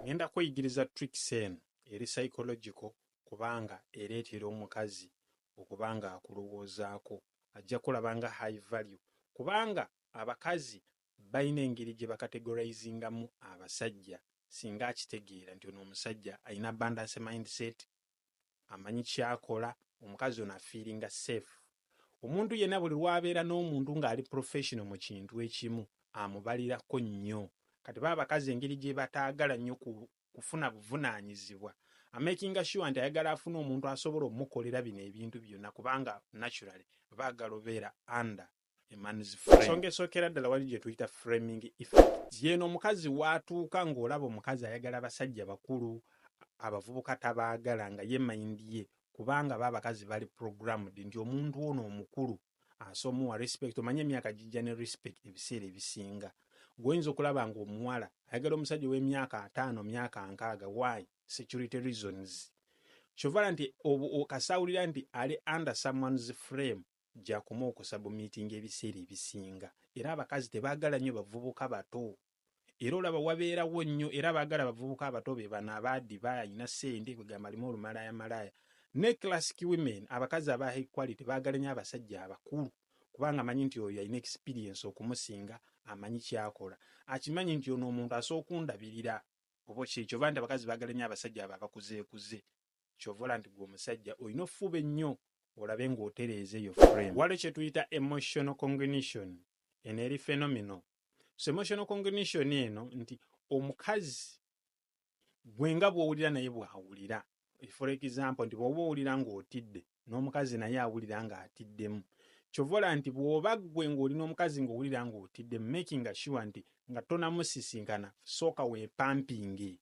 Ngenda kweyigiriza tricks eno eri psychological kubanga ereetera omukazi okuba nga akulowoozaako ajja kulaba nga high value kubanga abakazi balina engeri gye bakategorizingamu abasajja singa akitegeera nti ono omusajja alina abundance mindset amanyi kyakola omukazi ono afiiringa safe omuntu yenna buli lwabeera n'omuntu ng'ali professional mu kintu ekimu amubalirako nnyo kati baba abakazi engeri gyebataagala nnyo kufuna buvunaanyizibwa amakinga sure nti ayagala afune omuntu asobola omukolera bino ebintu byonna kubanga naturally baagala obeera under ensonga esookera ddala wali gye tuyita framing effect yeeno omukazi waatuuka ng'olaba omukazi ayagala abasajja bakulu abavubuka tabaagala nga ye mayindi ye kubanga ba abakazi bali programmed nti omuntu ono omukulu asomuwa respect omanye emyaka gijja ne respect ebiseera ebisinga gwoyinza okulaba ng'omuwala ayagala omusajja ow'emyaka ataano myaka nkaaga why security reasons kyovala nti kasawulira nti ali under someone's frame Gyakoma okusabumiitinga ebiseera ebisinga era abakazi tebaagala nnyo bavubuka bato era olaba wabeerawo nnyo era abaagala abavubuka abato be bano abaadiba, alina ssente kwegamba alimu olumalaayamalaaya. Ne classic women, abakazi aba high quality baagala nnyo abasajja abakulu kubanga amanyi nti oyo alina experience okumusinga, amanyi kyakola, akimanyi nti ono omuntu asooka ondabirira oba okitegera kyova nti abakazi baagala nnyo abasajja abo abakuzeekuze. Kyova olaba nti gwe omusajja olina ofuba ennyo olabe ng'otereeza eyo frame. Waliwo kye tuyita emotional congnition. Eno eri phenomenal. So emotional congnition eno nti omukazi gwe nga bw'owulira naye bw'awulira. For example nti bw'oba owulira ng'otidde n'omukazi naye awulira ng'atiddemu. Kyova olaba nti bw'oba gwe ng'oli n'omukazi ng'owulira ng'otiddemu making sure nti nga tonamusisinkana sooka weepampinge.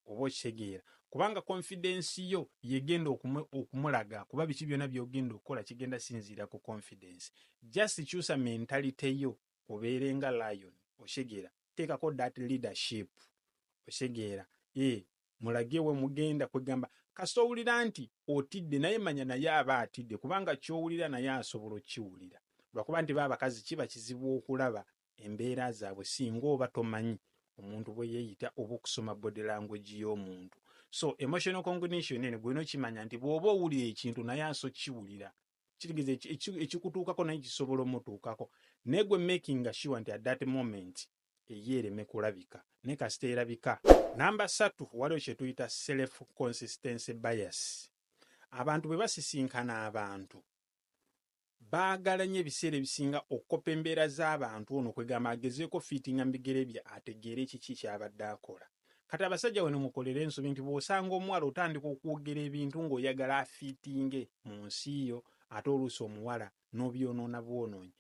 oba okitegeera kubanga confidence yo yegenda okumulaga kuba biki byona byogenda okukola kigenda sinziira ku confidence just kyusa mentality yo obeere nga lion okitegeera teekako that leadership okitegeera e eh, mulage we mugenda kwegamba kasita owulira nti otidde naye manya naye aba atidde kubanga kyowulira naye asobola okukiwulira lwakuba nti ba abakazi kiba kizibu okulaba embeera zaabwe singa oba tomanyi omuntu bwe yeeyita oba okusoma body language y'omuntu so emotional cognition eno gwena okimanya nti bw'oba owulira ekintu naye aso kiwulira kitegeza ekikutuukako naye kisobola omutuukako naye gwe making sure nti at that moment eyo ereme kulabika naye kasita erabika namba satu waliwo kye tuyita self consistency bias abantu bwe basisinkana abantu Baagala nnyo ebiseera ebisinga okukoppa embeera z'abantu ono kwegamba agezeeko fiitinga mu bigere bye ategeere kiki kyabadde akola. Kati abasajja wano mukolere ensobi nti bwosanga omuwala otandika okwogera ebintu nga oyagala afiitinge mu nsi yo ate oluusi omuwala nobyonoona bwonoonyi.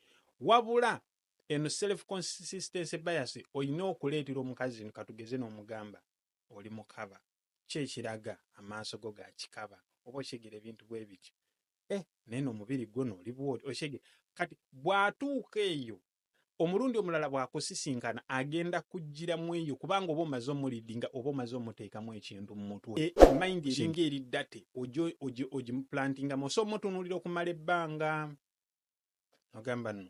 Wabula eno self consistency bias olina okuleetera omukazi katugeze nomugamba oli mukaba. ki ekiraga amaaso go ga kikaba oba okitegera ebintu bwe bityo eh, naye n'omubiri gwo n'oli bwoti okitegera kati bw'atuuka eyo omulundi omulala bw'akusisinkana agenda kujjira mu eyo kubanga oba omaze omulidinga oba omaze omuteekamu ekintu mu mutwe e, mayindi eringa eri date ogimuplantingamu osa omutunuulira okumala ebbanga nogamba no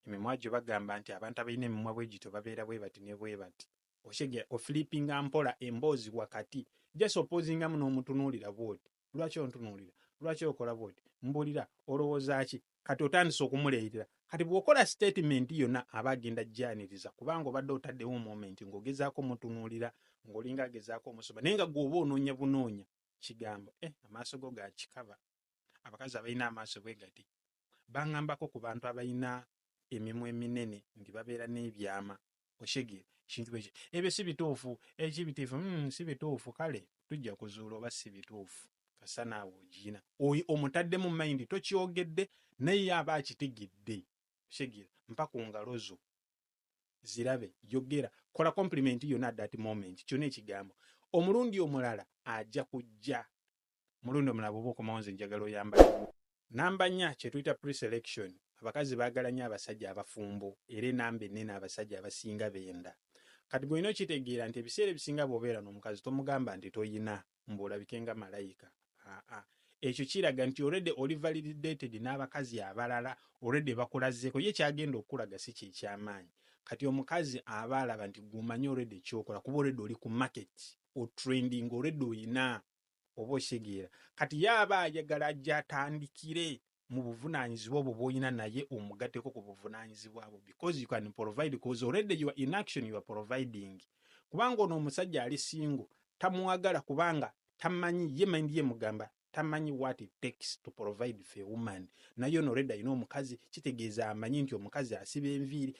emimwa gyo bagamba nti abantu abalina emimwa bwegito babeera bwebati nebwebati oshege ofilipinga mpola emboozi wakati just opozinga muno omutunuulira bwoti lwaki ontunuulira lwaki okola bwoti mbulira olowooza ki kati otandise okumuleerera kati bwokola statement yona aba agenda janiriza kubanga obadde otaddewo moment ngaogezaako omutunuulira ngaolinga agezaako omusoba naye nga gwoba onoonya bunoonya kigambo eh amaaso go gakikaba abakazi abalina amaaso bwe gati bangambako ku bantu abalina emimwa eminene nti babeera n'ebyama okitegeera ekintu bwekyo ebyo si bituufu ekibitiifu eh, mm, si bituufu kale tujja kuzuula oba si bituufu kasa naawe ogiyina oyo omutaddemu mayindi tokyogedde naye aba akitegedde okitegeera mpa ku ngalo zo zirabe yogera kola compliment yona that moment kyona ekigambo omulundi omulala ajja kujja mulundi omulala bwoba okomawo nze njagala oyambale namba nya kyetuyita preselection abakazi bagala nyo abasajja abafumbo era enamba enene abasajja abasinga benda kati gweolina okitegeera nti ebiseera ebisinga bwobeera nomukazi tomugamba nti toyina mbuolabike nga malayika aa ekyo kiraga nti oredi oli validated n'abakazi abalala oredi bakulazeeko ye kyagenda okukulaga si kyekyamaanyi kati omukazi aba alaba nti gwomanyi oredi ekyokola kuba oredi oli ku market otrending oredi oyina oba okitegeera kati ye aba ayagala ajje atandikire mu buvunanyizibwa obwo bwolina naye omugateko ku buvunanyizibwa bwo because you can provide because already you are in action you are providing kubanga ono omusajja ali single tamwagala kubanga tamanyi ye mind ye mugamba tamanyi what it takes to provide for a woman naye ono redi alina omukazi kitegeeza amanyi nti omukazi asiba enviiri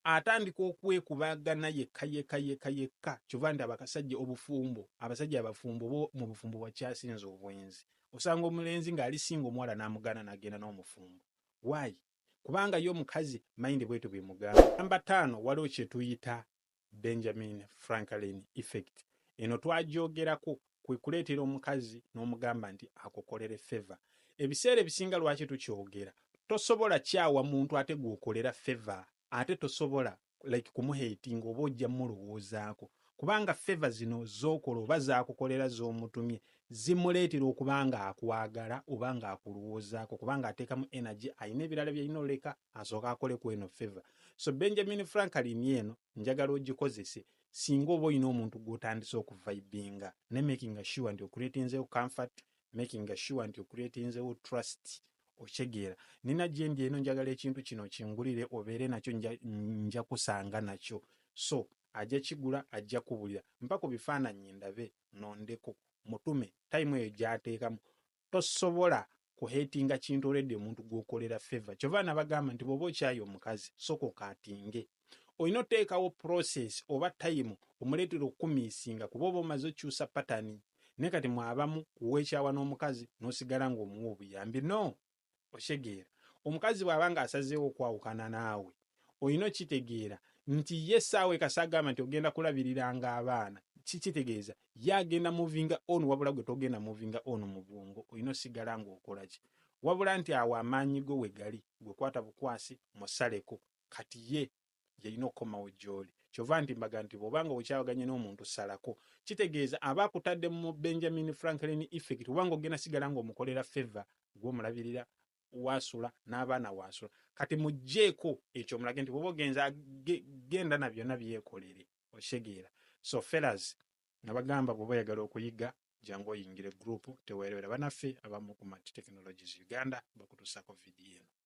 atandika okwekubagana yekka yekka yekka yekka kyova nti abakasajja obufumbo abasajja abafumbo bo mu bufumbo wakyasinza obwenzi osanga omulenzi ng'ali singa omuwala n'amugana n'agenda n'omufumbo waayi kubanga ye omukazi mayinde bwetu bimugamba namba taano waliwo kyetuyita Benjamin Franklin effect. Eno twagyogerako, kwe kuleetera omukazi n'omugamba nti akukolere favour. Ebiseera ebisinga lwaki tukyogera, tosobola kyawa muntu ate gw'okolera favour ate tosobola like kumuhatinga oba ojja mulowoozaako kubanga favour zino z'okola oba z'akukolera z'omutumye zimuleetera okuba ng'akwagala oba ng'akulowoozaako kubanga ateekamu energy alina ebirala by'alina oleka asooka akole ku eno feva so benjamin franklin eno njagala ogikozese singa oba olina omuntu gw'otandise okuvaibinga ne makinga sure nti okuretinzewo comfort makinga sure nti okuretinzewo trust okitegeera nina gyendi eno njagala ekintu kino kingulire obeere nakyo nja kusanga nakyo so ajja kigula ajja kubulira mpa ku bifaananyi ndabe nondeko mutume tayimu eyo gyateekamu tosobola ku hatinga kintu already omuntu gwokolera favor kyova nabagamba nti bwoba okyaye omukazi soka okatinge olina oteekawo process oba time omuleetera okukumiisinga kuba oba omaze okyusa patani naye kati mwe abamu kuwekyawa n'omukazi nosigala nga omuwa obuyambi no Okitegeera? Omukazi bw'aba nga asazeewo okwawukana naawe, olina okitegeera nti ye ssaawa eka s'agamba nti ogenda kulabiriranga abaana. Ki, kitegeeza ye agenda movinga on wabula gwe togenda movinga on mu bwongo, olina osigala nga okola ki? Wabula nti awo amaanyi go we gali, gwe kwata bukwasi, musaleko. Kati ye yalina okukomawo gy'oli kyova nti mbaga nti bwobanga okyawaganye n'omuntu salako kitegeeza aba akutadde mu benjamin franklin effect obanga ogenda sigala ng'omukolera favor gw'omulabirira waasula n'abaana waasula kati mugjeeko ekyo omulage nti bwoba ogenza genda na byonna byekolere okitegeera so fellas nabagamba bwoba oyagala okuyiga jangu oyingire group teweerebera banaffe abamu ku mat technologies uganda bakutusako vidiyo eno